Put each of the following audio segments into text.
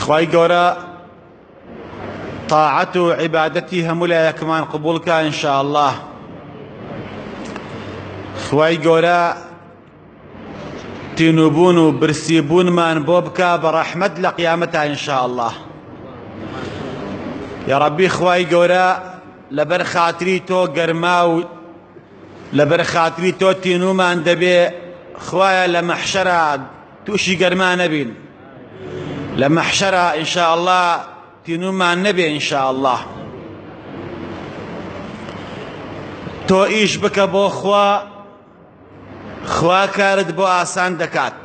خوای گەورە تاعەت و عیبادەتی هەموو لایەکمان قبولکە انشاءالله خوای گەورە تینوبوون و برسیبوونمان بۆ بکە بە ڕەحمەت لە قیامەتە انشاءالله یا ڕەبی خوای گەورە لەبەر خاتری تۆ گەرما و لەبەر خاتری تۆ تینوومان دەبێ خوایە لە مەحشەرا تووشی گەرما نەبین لە مەحشەرا ئینشاءاللە تینوومان نەبێ ئینشاءاللە تۆ ئیش بکە بۆ خوا خوا کارت بۆ ئاسان دەکات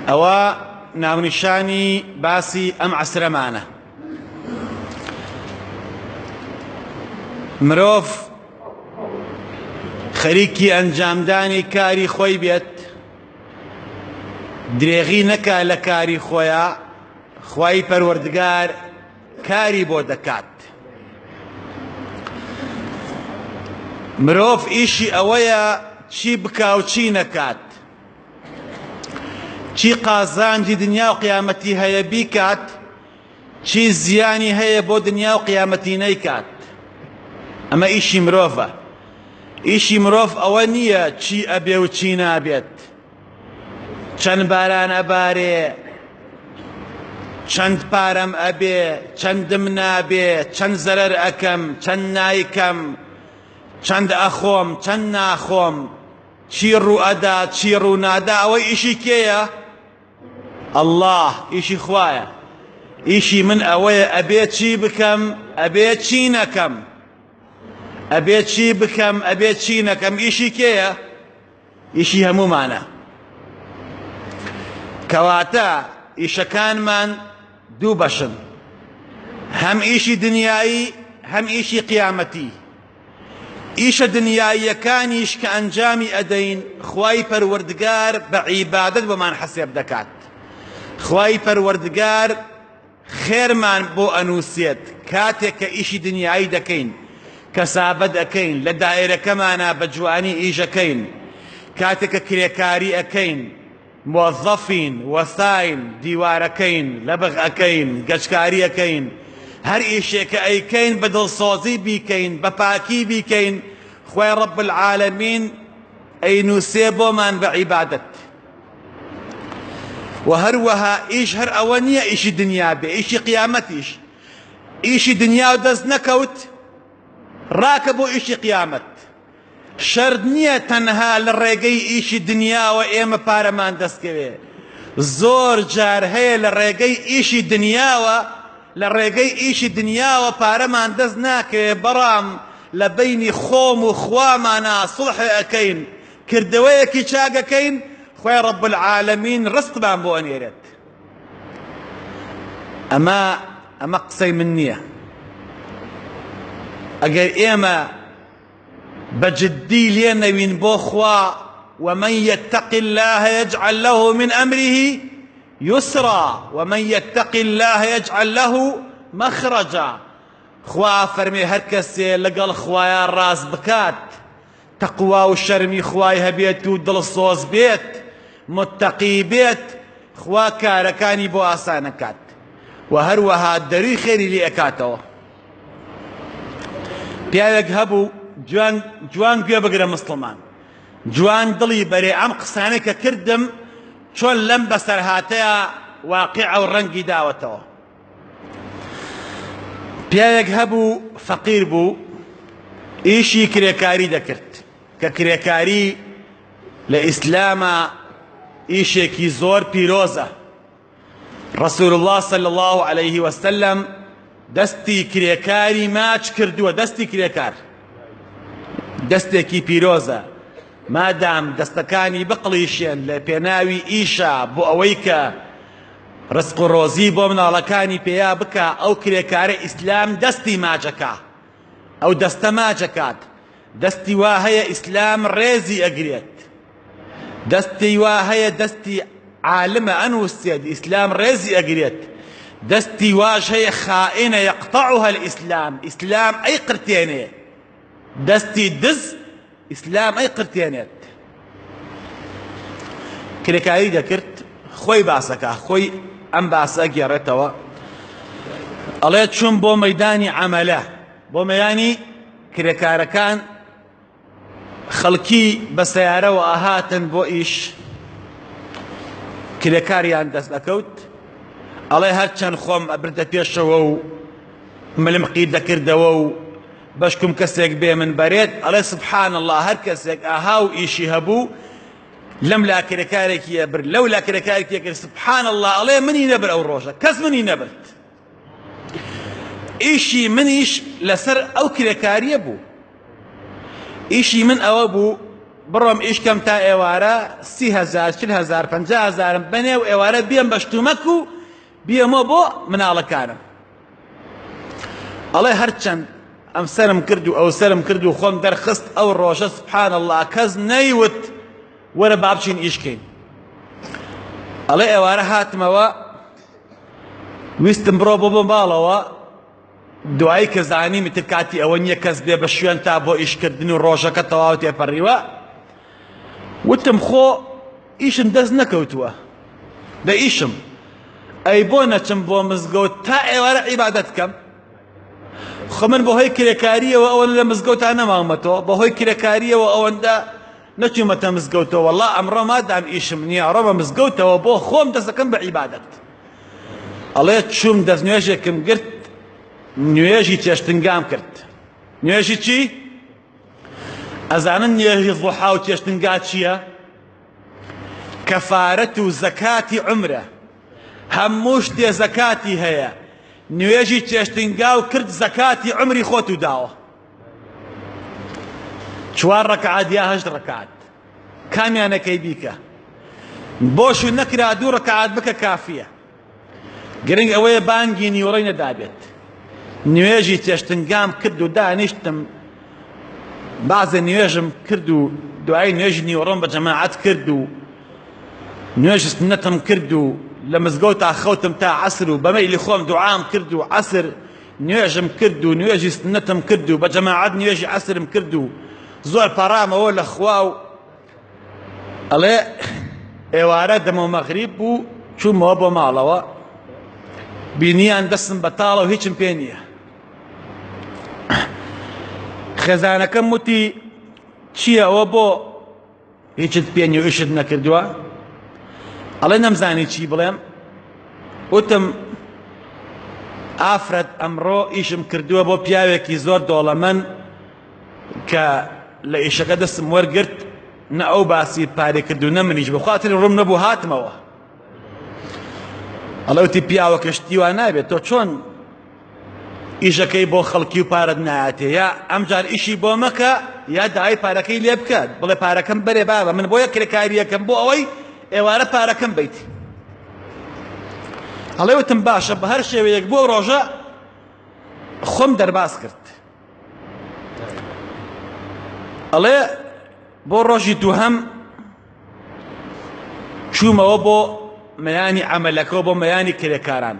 ئەوە ناونیشانی باسی ئەم عەسرەمانە مرۆڤ خەریکی ئەنجامدانی کاری خۆی بێت درێغی نەکا لە کاری خۆیە خی پەروەردگار کاری بۆ دەکات مرۆڤ ئیشی ئەوەیە چی بکاو چی نەکات چی قازانجی دنیا و قیامەتی هەیە بیکات چی زیانی هەیە بۆ دنیا و قیامەتی نەیکات ئەمە ئیشی مرۆڤە ئیشی مرۆڤ ئەوە نییە چی ئەبێ و چی نابێت چەند باران ئەبارێ چەند پارەم ئەبێ چەندم نابێ چەند زەرەر ئەکەم چەند نایکەم چەند ئەخۆم چەند ناخۆم چی ڕوو ئەدا چی ڕوو نادا ئەوە ئیشی کێیە اللە ئیشی خوایە ئیشی من ئەوەیە ئەبێ چی بکەم ئەبێ چی نەکەم ئەبێ چی بکەم ئەبێ چی نەکەم ئیشی کێیە ئیشی هەمومانە کەواتە ئیشەکانمان دوو بەشن هەم ئیشی دنیایی هەم ئیشی قیامەتی ئیشە دنیاییەکانیش کە ئەنجامی ئەدەین خوای پەروەردگار بە عیبادەت بۆمان حەسێب دەکات خوای پەروەردگار خێرمان بۆ ئەنووسێت کاتێک کە ئیشی دنیایی دەکەین کەسابەت ئەکەین لە دایرەکەمانە بە جوانی ئیشەکەین کاتێک کە کرێکاری ئەکەین موەزەفین، وەساین، دیوارەکەین، لەبغ ئەکەین، گەچکاری ئەکەین، هەر ئیشێک ئەیکەین بە دڵسۆزی بیکەین، بە پاکی بیکەین، خوای رب العالمین ئەینوسێ بۆمان بە عیبادەت. وە هەروەها ئیش هەر ئەوە نیە ئیشی دنیا بێ، ئیشی قیامەتیش، ئیشی دنیاو دەست نەکەوت راکە بۆ ئیشی قیامەت. شەرت نییە تەنها لە ڕێگەی ئیشی دنیاوە ئێمە پارەمان دەستکەوێ، زۆر جار هەیە لە ڕێگەی ئیشی دنیاوە لە ڕێگەی ئیشی دنیاوە پارەمان دەست ناکەوێ بەڵام لە بەینی خۆم و خوامانا سوڵح ئەکەین کردەوەیەکی چاک ئەکەین خوای رب العالمین رزقمان بۆ ئەنێرێت ئەمە ئەمە قسەی من نییە ئەگەر ئێمە بە جدی لێ نەوین بۆ خوا ومن یتق اللە یجعل له من ئەمره یسرا ومن یتق اللە یجعل له مەخرەجا خوا فەرمێ هەر کەسێ لەگەڵ خوایە ڕاز بکات تەقوا و شەرمی خوای هەبێت و دڵسۆز بێت متەقی بێت خوا کارەکانی بۆ ئاسانەکات و هەروەها دەروی خێری لێ ئەکاتەوە پیاوێک هەبوو جوان جوان گوێ بگرە مستڵمان جوان دڵی بەرێ ئەم قسانە کە کردم چۆن لەم بەسەرهاتەیە واقع ئەو ڕەنگی داوەتەوە پیاوێک هەبوو فەقیر بوو ئیشی کرێکاری دەکرد کە کرێکاری لە ئیسلامە ئیشێکی زۆر پیرۆزە رسول اللە صلی اللە علیە وسلم دەستی کرێکاری ماچ کردووە دەستی کرێکار دەستێکی پیرۆزە مادام دەستەکانی بقڵیشێن لە پێناوی ئیشە بۆ ئەوەی کە ڕسق و ڕۆزی بۆ مناڵەکانی پێیا بکە ئەو کرێکارە ئیسلام دەستی ماجەکە ئەو دەستە ماجەکات دەستی وا هەیە ئیسلام ڕێزی ئەگرێت دەستی وا هەیە دەستی عالمە ئەنوسێت ئیسلام ڕێزی ئەگرێت دەستی واش هەیە خائنە یقطعها الاسلام ئیسلام ئەی قرتێنێ دەستی دز ئیسلام ئەی قرتێنێت کرێکاری دەکرد خۆی باسەکە خۆی ئەم باسە گێڕێتەوە ئەڵێ چون بۆ مەدانی عملە بۆ مەیانی کرێکارەکان خەڵکی بە سەیارەوە ئەهاتن بۆ ئیش کرێکاریان دەست ئەکەوت ئەڵێ هەرچەند خۆم ئەبردە پێشەوە و ملمقی دەکردەوە و بەشکم کەسێک بێ من بەرێت ئەڵێ سبحان الله هەر کەسێک ئاها و ئیشی هەبوو لەم لا کرێکارێکی ئەبرد لەو لا کرێکارێکی کرد سبحان الله ئەڵێ منی نەبر ئەو ڕۆژە کەس منی نەبرد ئیشی منیش لەسەر ئەو کرێکاریە بوو ئیشی من ئەوە بوو بڕۆم ئیشکەم تا ئێوارە سی هزار چل هزار پنج هزارم بەنێ و ئێوارە بێم بە شتومەک و بێمە بۆ مناڵەکانم ئەڵێ هەرچەند ئەم سرم کرد و ئەو سرم کرد و خۆم دەرخست ئەو ڕۆژە سبحان الله کەس نەیوت وەرە بابچین ئیشکەین ئەڵێ ئێوارە هاتمەوە ویستم بڕۆ بۆ بۆ ماڵەوە دوایی کە زانیم تر کاتی ئەوە نییە کەس بێ بە شوێن تا بۆ ئیشکردن و ڕۆژەکە تەواو تێپەڕیوە وتم خۆ ئیشم دەست نەکەوتووە بە ئیشم ئەی بۆ نەچم بۆ مزگەوت تا ئێوارە عیبادەت کەم خۆ من بەهۆی کرێکاریەوە ئەوەن لە مزگەوتان نەماومەتەوە بەهۆی کرێکاریەوە ئەوەندە نەچوومەتە مزگەوتەوە وەڵا ئەمڕۆ مادام ئیشم نییە ئەڕۆمە مزگەوتەوە بۆ خۆم دەستەکەم بە عیبادەت ئەڵێ چووم دەست نوێژێکم گرت نوێژی چێشتنگام کرد نوێژی چی؟ ئەزانن نوێژی ضحا و چێشتنگا چییە؟ کەفارەت و زەکاتی عمرە هەموو شتێ زەکاتی هەیە نوێژی چێشتنگا و کرد زەکاتی عمری خۆت و داوە چوار ڕکعات یا هەشت ڕکعات کامیانەکەی بیکە بۆش و نەکرا دوو ڕکعات بکە کافیە گرنگ ئەوەیە بانگی نیوەڕی نەدابێت نوێژی چێشتنگام کرد و دانیشتم بازە نوێژم کرد و دوای نوێژی نیوەڕۆم بە جەماعەت کرد و نوێژی سنەتم کرد و لە مزگەوتا خەوتم تا عەسر و بەمەیلی خۆم دوعام کرد و عەسر نوێژم کرد و نوێژی سنەتم کرد و بە جەماعەت نوێژی عەسرم کرد و زۆر پەڕامەوە لە خوا و ئەڵێ ئێوارە دەمە مەغریب بوو چوومەوە بۆ ماڵەوە بینیان دەستم بەتاڵە و هیچم پێ نییە خێزانەکەم وتی چییەوە بۆ هیچت پێ نیو ئیشت نەکردووە ئەڵێ نەمزانی چی بڵێم وتم ئافرەت ئەمڕۆ ئیشم کردووە بۆ پیاوێکی زۆر دۆڵەمەن کە لە ئیشەکە دەستم وەرگرت نە ئەو باسی پارێ کرد و نە منیش بخواتری ڕوم نەبوو هاتمەوە ئەڵەوتی پیاوەکە شتی وا نابێت تۆ چۆن ئیشەکەی بۆ خەڵکی و پارەت نایاتێ یا ئەمجار ئیشی بۆ مەکە یا داوای پارەکەی لێ بکات بڵێ پارەکەم بەرێ بابە من بۆیە کرێکاریەکەم بۆ ئەوەی ئێوارە پارەکەم بیت ئەڵێ وتم باشە بە هەر شێوەیەک بۆ ڕۆژە خۆم دەرباز کرد ئەڵێ بۆ ڕۆژی دووهەم چوومەوە بۆ مەیانی عەمەلەکەوە بۆ مەیانی کرێکاران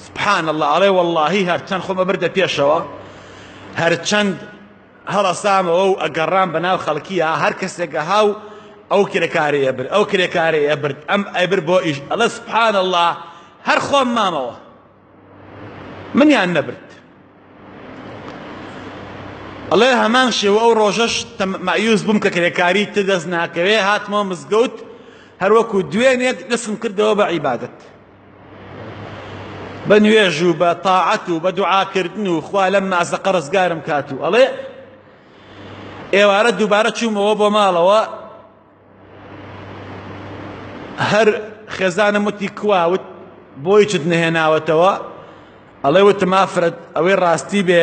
سبحان الله ئەڵێ واللهی هەرچەند خۆمە بردە پێشەوە هەرچەند هەڵەسامەوە و ئەگەڕام بە ناو خەڵکیە هەر کەسێکە هاو ئەو کرێکارەیە برد ئەو کرێکارەیە برد ئەم ئەبر بۆ ئیش ئەڵە سبحان الله هەر خۆم مامەوە منیان نەبرد ئەڵێ هەمان شێوە ئەو ڕۆژەش مەعیوز بووم کە کرێکاری تر دەست ناکەوێ هاتمەوە مزگەوت هەروەکو دوێنێک دەستم کردەوە بە عیبادت بە نوێژ و بە تاعەت و بە دوعاکردن و خوا لەم مازەقە ڕزگارم کات و ئەڵێ ئێوارە دووبارە چوومەوە بۆ ماڵەوە هەر خێزانم وتی کوا وت بۆیچت نەهێناوەتەوە ئەڵێ وتم ئافرەت ئەوەی ڕاستی بێ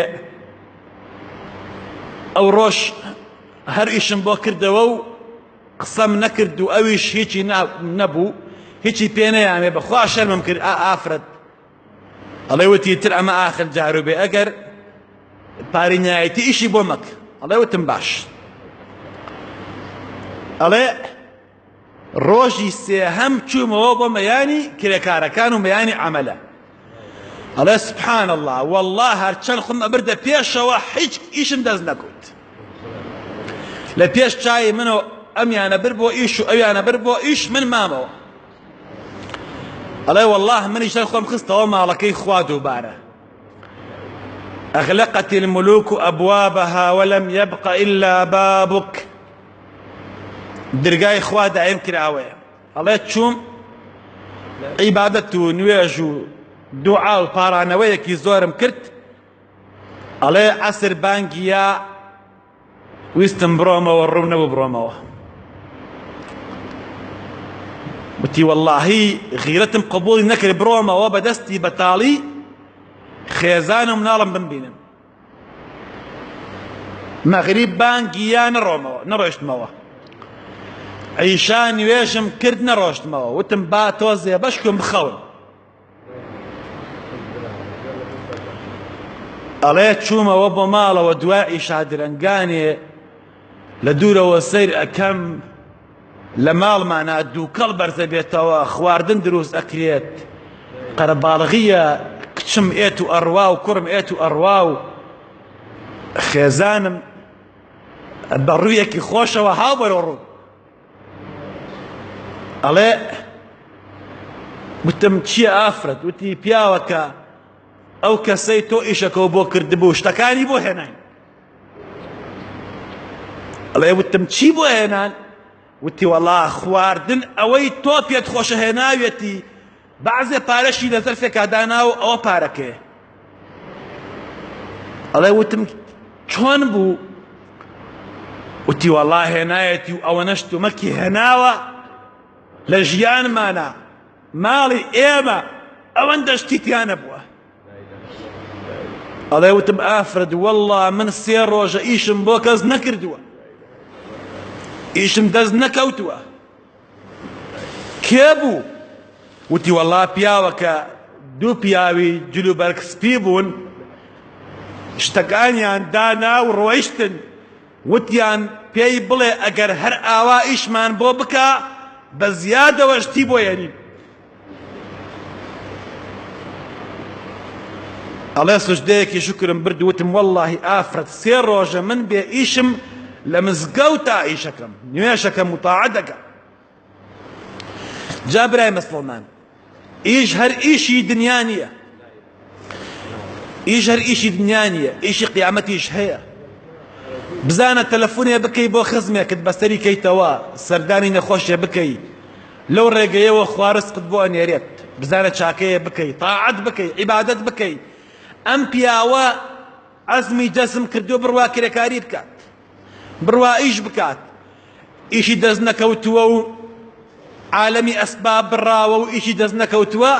ئەو ڕۆژ هەر ئیشم بۆ کردەوە و قسەم نەکرد و ئەویش هیچی نەبوو هیچی پێ نەیامێ بەخوا شەرمم کرد ئافرەت ئەڵێ وتی تر ئەمە ئاخر جارو بێ ئەگەر پاری نایەتی ئیشی بۆ مەک ئەڵێ وتم باش ئەڵێ ڕۆژی سێهەم چوومەوە بۆ مەیانی کرێکارەکان و مەیانی عملە ئەڵێ سبحان الله والله هەرچەند خۆم ئەبردە پێشەوە هیچ ئیشم دەست نەکوت لە پێش چای منەوە ئەمیانە بر بۆ ئیش و ئەویانە بر بۆ ئیش من مامەوە ئەڵێ واللە منیش سەر خۆم خستەوە ماڵەکەی خوا دووبارە أغلقت الملوك أبوابها ولم يبق إلا بابك درگای خوا دایم کراوەیە ئەڵێ چوم عیبادەت و نوێژ و دوعا و پارانەوەیەکی زۆرم کرد ئەڵێ عەسر بانگیە ویستم بڕۆمەوە ڕوو نەبوو بڕۆمەوە وتی واللهی غیرەتم قبولی نەکرد بڕۆمەوە بە دەستی بەتاڵی خێزان و مناڵم بمبینم مەغریب بانگی یا نەڕۆمەوە نەڕۆشتمەوە عیشا نوێژم کرد نەڕۆشتمەوە وتم با تۆزێ بەشکم بخەون ئەڵێ چوومەوە بۆ ماڵەوە دوا ئیشا درەنگانێ لە دوورەوە سیر ئەەکەم لە ماڵمانە دووکەڵ بەرزە بێتەوە خواردن دروست ئەکرێت قەرەباڵغیە کچم ئێت و ئەڕوا و کوڕم ئێت و ئەڕوا و خێزانم بە ڕوویەکی خۆشەوە هاوبەرۆڕوو ئەڵێ وتم چییە ئافرەت وتی پیاوەکە ئەو کەسەی تۆ ئیشەکەەوە بۆ کردبوو شتەکانی بۆ هێنان ئەڵێ وتم چی بۆ هێنان وتی وەڵا خواردن ئەوەی تۆ پێت خۆشە هێناوێتی بەعزێ پارەشی لە زەرفێکا داناوە ئەوە پارەکەیە ئەڵێ وتم چۆن بوو وتی وەڵا هێنایەتی و ئەوە نەشتومەکی هێناوە لە ژیانمانە ماڵی ئێمە ئەوەندە شتیتیانە بووە ئەڵێ وتم ئافرەت وەڵا من سێ ڕۆژە ئیشم بۆ کەس نەکردووە ئیشم دەست نەکەوتووە کێ بوو؟ وتی وەڵا پیاوەکە دوو پیاوی جلوبەرگ سپی بوون شتەکانیان دانا و ڕۆیشتن وتیان پێی بڵێ ئەگەر هەر ئاوا ئیشمان بۆ بکا بە زیادەوە شتی بۆ یەنین. ئەڵێ سوجدەیەکی شکرم برد وتم واللهی ئافرەت سێ ڕۆژە من بێ ئیشم لە مزگەوتا ئیشەکەم نوێشەکەم و تاعە دەکەم جا برای مسلمان ئیش هەر ئیشی دنیا نییە ئیش هەر ئیشی دنیا نییە ئیشی قیامەتیش هەیە بزانە تەلەفونێ بکەی بۆ خزمێکت بەسەری کەیتەوە سەردانی نەخۆشێ بکەی لەو ڕێگەیەوە خوارسقت بۆ ئەنێرێت بزانە چاکەیە بکەی تاعەت بکەی عیبادەت بکەی ئەم پیاوە عەزمی جەزم کردو بڕوا کرێکاری بکات بڕوا ئیش بکات ئیشی دەست نەکەوتووە و عالەمی ئەسباب بڕاوە و ئیشی دەست نەکەوتووە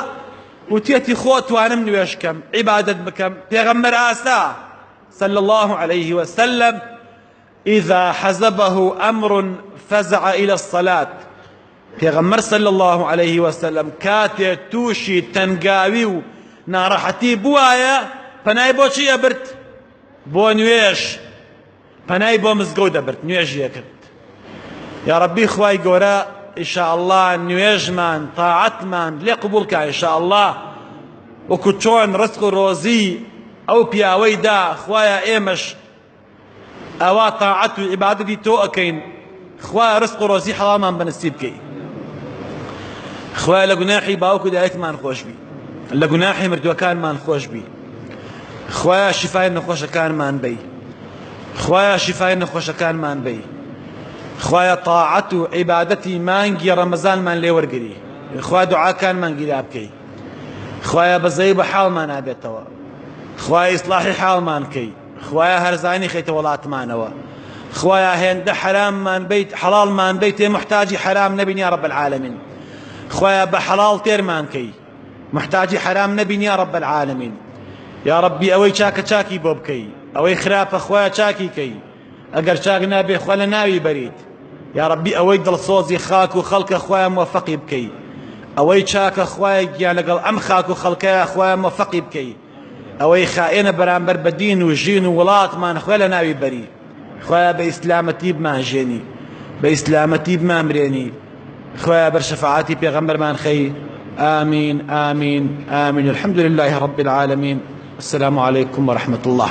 وتێتی خۆ توانم نوێش کەم عیبادت بکەم پێغەمبەر ئاسا صلى الله عليه وسلم إذا حزبه أمر فزع إلى الصلاة پێغەمبەر صلى الله عليه وسلم کاتێ تووشی تەنگاوی و ناڕەحەتی بوایە پەنای بۆچی ئەبرد بۆ نوێژ پەنای بۆ مزگەوت دەبرد نوێژی دەکرد یا ربی خوای گەورە ئیشاءاللە نوێژمان تاعەتمان لێ قبول کا ئیشاءاللە وەکو چۆن ڕسق و ڕۆزی ئەو پیاوەی دا خوایە ئێمەش ئەوا تاعەت و عیبادەتی تۆ ئەکەین خوایە ڕزق و ڕۆزی حەڵاڵمان بەنسیب کەی خوایە لە گوناحی باوک و دایکمان خۆشبی لە گوناحی مردوەکانمان خۆشبی خوایە شیفای نەخۆشەکانمان بی خوایە شیفای نەخۆشەکانمان بی خوایە تاعەت و عیبادەتی مانگی ڕەمەزانمان لێوەرگری خوا دوعاکانمان گیرا بکەی خوایە بەزەی بە حاڵمان نابێتەوە خوای ئیسلاحی حاڵمان کەی خوایە هەرزانی خەیتە وەڵاتمانەوە خوایە هێندە حەراممان بیت حەڵاڵمان بیت تێ محتاجی حەرام نەبین یا رب العالمین خوایە بە حەڵاڵ تێرمان کەی محتاجی حەرام نەبین یا رب العالمین یا ربی ئەوەی چاکە چاکی بۆ بکەی ئەوەی خراپە خوایە چاکی کەی ئەگەر چاک نابێ خوا لە ناوی بەریت یا ربی ئەوەی دڵسۆزی خاک و خەڵکە خوایە موفقی بکەی ئەوەی چاکە خوایە گیان لەگەڵ ئەم خاک و خەڵکەیە خوایە موفقی بکەی ئەوەی خائێنە بەرامبەر بە دین و ژین و وڵاتمان خوێ لە ناوی بەری خوایە بە ئیسلامەتی بمانژێنی بە ئیسلامەتی بمانمرێنی خوایە بەر شەفاعەتی پێغەمبەرمان خەی آمین آمین آمین الحمد لله رب العالمین السلام علیکم ورحمة الله